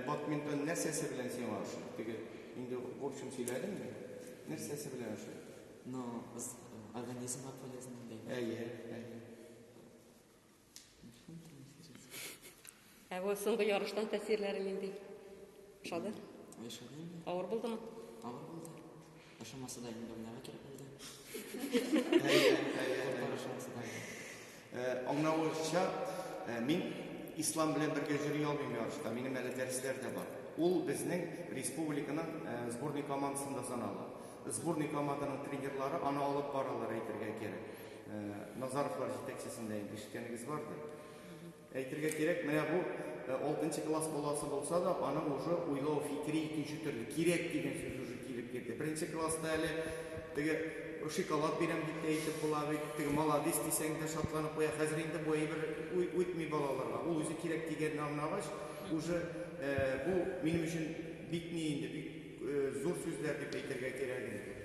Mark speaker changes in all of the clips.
Speaker 1: Бадминтон нәрсәсе белән сиңа ошый? Теге инде в общем сөйләдем мин. Нәрсәсе белән ошый? Ну,
Speaker 2: организмга полезно дигән. Әйе, әйе.
Speaker 3: Ә бу соңгы ярыштан тәэсирләре нинди? Ошады? Ошады.
Speaker 2: Авыр булдымы?
Speaker 3: Авыр булды.
Speaker 2: Ошамаса да инде уйнарга кирәк булды.
Speaker 1: Аңлавымча, мин ислам белән бергә йөри алмыйм ярышта. Минем әле дәресләр дә бар. Ул безнең республиканың сборный командасында санала. Сборный команданың тренерлары аны алып баралар әйтергә кирәк. Назаровлар җитәкчесендә инде ишеткәнегез бардыр. Әйтергә кирәк, менә бу алтынчы класс баласы булса да, аның уже уйлау фикере икенче төрле. Кирәк дигән сүз уже килеп керде. Беренче класста әле теге шоколад бирәм дип тә әйтеп була бит, теге маладис дисәң дә шатланып куя. Хәзер инде бу әйбер үтми балаларга. Ул үзе кирәк дигәнне аңлагач, уже бу минем өчен бик ни инде, бик зур сүзләр дип әйтергә кирәк инде.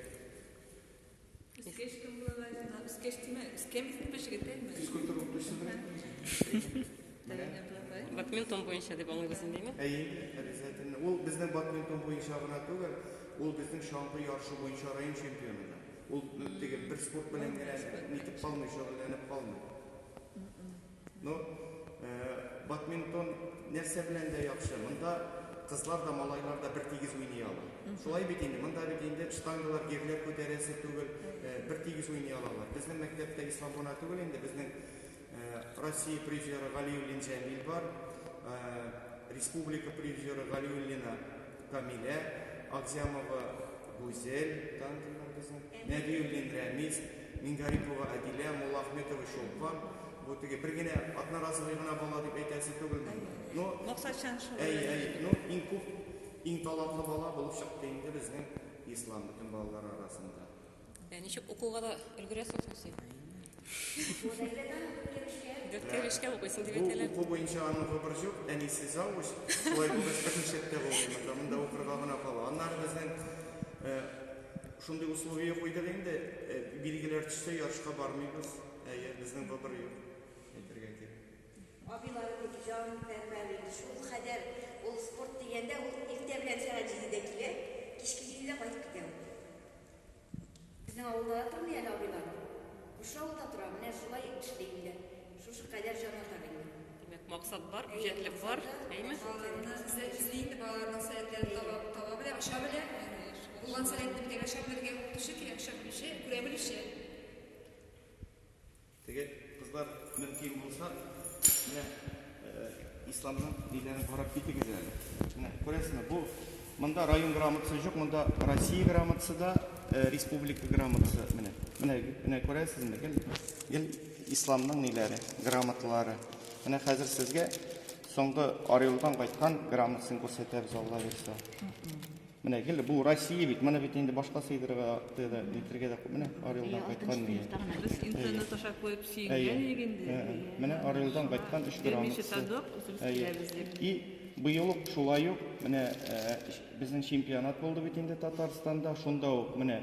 Speaker 3: Бадминтон буенча дип аңлыйбыз инде, әйеме? Әйе, обязательно.
Speaker 1: Ул безнең бадминтон буенча гына түгел, ул безнең чаңгы ярышы буенча район чемпионы да. Ул теге бер спорт белән генә нитеп калмый, шөгыльләнеп калмый. Ну, э, бадминтон нәрсә белән дә яхшы. Монда кызлар да, малайлар да бер тигез уйный ала. Шулай бит инде, монда бит инде штангалар, гирләр күтәрәсе түгел, э, бер тигез уйный алалар. Безнең мәктәптә ислам гына түгел инде, безнең э, Россия призеры Галиуллин Җәмил бар, э, республика призеры Галиуллина Камилә Акзямова, Гүзәл Данкина безнең, Нәбиуллин Рәмис, Мингарипова Адилә, Муллаахметова Чулпан. Бу теге бер генә одноразовый гына бала дип әйтәсе түгел мени? Но Максатчан шул. Әй, әй, ну иң күп, иң талантлы бала булып чыкты инде безнең Ислам бөтен балалар арасында. Ә ничек
Speaker 3: укуга да өлгерәсең соң син? Гәткәлешкә укыйсың дип әйтәләр. Бу уку буенча аның выбор
Speaker 1: җук, әнисе завуч, шулай булгач берничек тә булмый, монда, монда укырга гына кала. Аннары безнең шундый условие куйдык инде, билгеләр төшсә, ярышка бармыйбыз, әйе, безнең выбор юк, әйтергә кирәк. Абыйлары
Speaker 4: бик җан пәрвәр иде, шул кадәр ул спорт дигәндә, ул иртә белән сәгать җидедә килә, кичке җидедә кайтып китә ул. Безнең авылда да тормый әле абыйлар. Күрше авылда тора, менә шулай эшли инде. Шушы кадәр җанатар инде. Димәк, максат
Speaker 3: бар, үҗәтлек бар, әйме? Балаларына эзләп
Speaker 5: эзли инде, балаларының сәләтләрен таба, таба белә, ача белә. Булган сәләтне бергә ача белергә укытучы кирәк, ача белүче, күрә белүче.
Speaker 1: Теге кызлар мөмкин булса, менә исламның өйләрен карап китегез әле. Менә күрәсезме, бу монда район грамотасы юк, монда Россия грамотасы да, республика грамотасы менә. Менә менә күрәсезме, гел гел исламның ниләре, грамоталары. Менә хәзер сезгә соңгы Орелдан кайткан грамотасын күрсәтәбез, Алла бирсә. Менә гел бу Россия бит, моны бит инде башка сыйдырырга, тыйда, нитергә дә менә Орелдан кайткан мия. Без интернет
Speaker 6: аша куеп сөенгән идек инде. Менә Орелдан
Speaker 1: кайткан 3 грамм. Берничә тадок үзебез киләбез дип. И быел ук шулай ук менә безнең чемпионат булды бит инде Татарстанда, шунда ук менә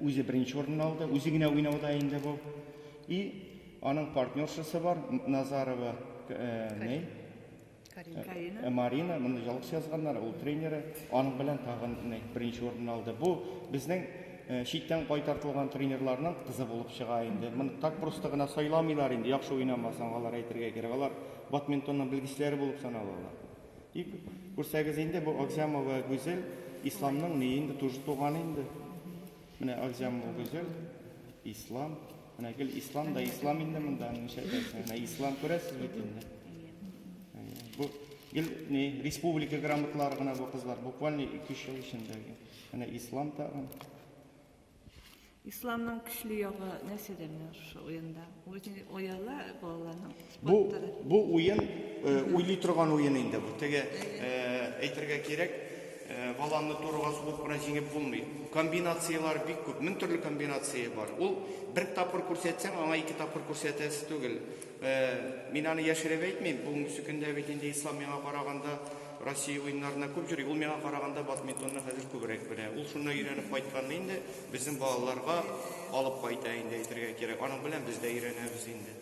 Speaker 1: үзе беренче урынны алды, үзе генә уйнауда инде бу. И аның партнершасы бар, Назарова, не? Карина. Марина, моны ялгыш язганнар, ул тренеры. Аның белән тагын беренче урын алды. Бу безнең читтән кайтартылган тренерларның кызы булып чыга инде. Моны так просто гына сайламыйлар инде, яхшы уйнамасаң, алар әйтергә кирәк. Алар бадминтонның белгечләре булып саналалар. И күрсәгез инде бу Акзямова Гүзел исламның ни инде туган инде. Менә Алҗам Гүзел, Ислам. Менә гел Ислам да Ислам инде монда ничә тәсә. Менә Ислам күрәсез бит инде. Бу гел не республика грамоталары гына бу кызлар. Буквально 2-3 ел эчендә. Менә Ислам тагын.
Speaker 6: Исламның көчле ягы нәрсәдә менә шушы уенда? Үзен ояла балаларның. Бу бу
Speaker 1: уен уйлый торган уен инде бу. Теге әйтергә кирәк, баланы турыга сугып кына җиңеп булмый. Комбинацияләр бик күп, мең төрле комбинация бар. Ул бер тапкыр күрсәтсәң, аңа ике тапкыр күрсәтәсе түгел. Мин аны яшереп әйтмим. Бүгенге сөкендә бит инде Ислам миңа караганда Россия уеннарына күп җөри. Ул миңа караганда бадминтонны хәзер күбрәк белә. Ул шунда өйрәнеп кайткан инде, безнең балаларга алып кайта инде әйтергә кирәк. Аның белән
Speaker 5: без дә
Speaker 1: өйрәнәбез инде.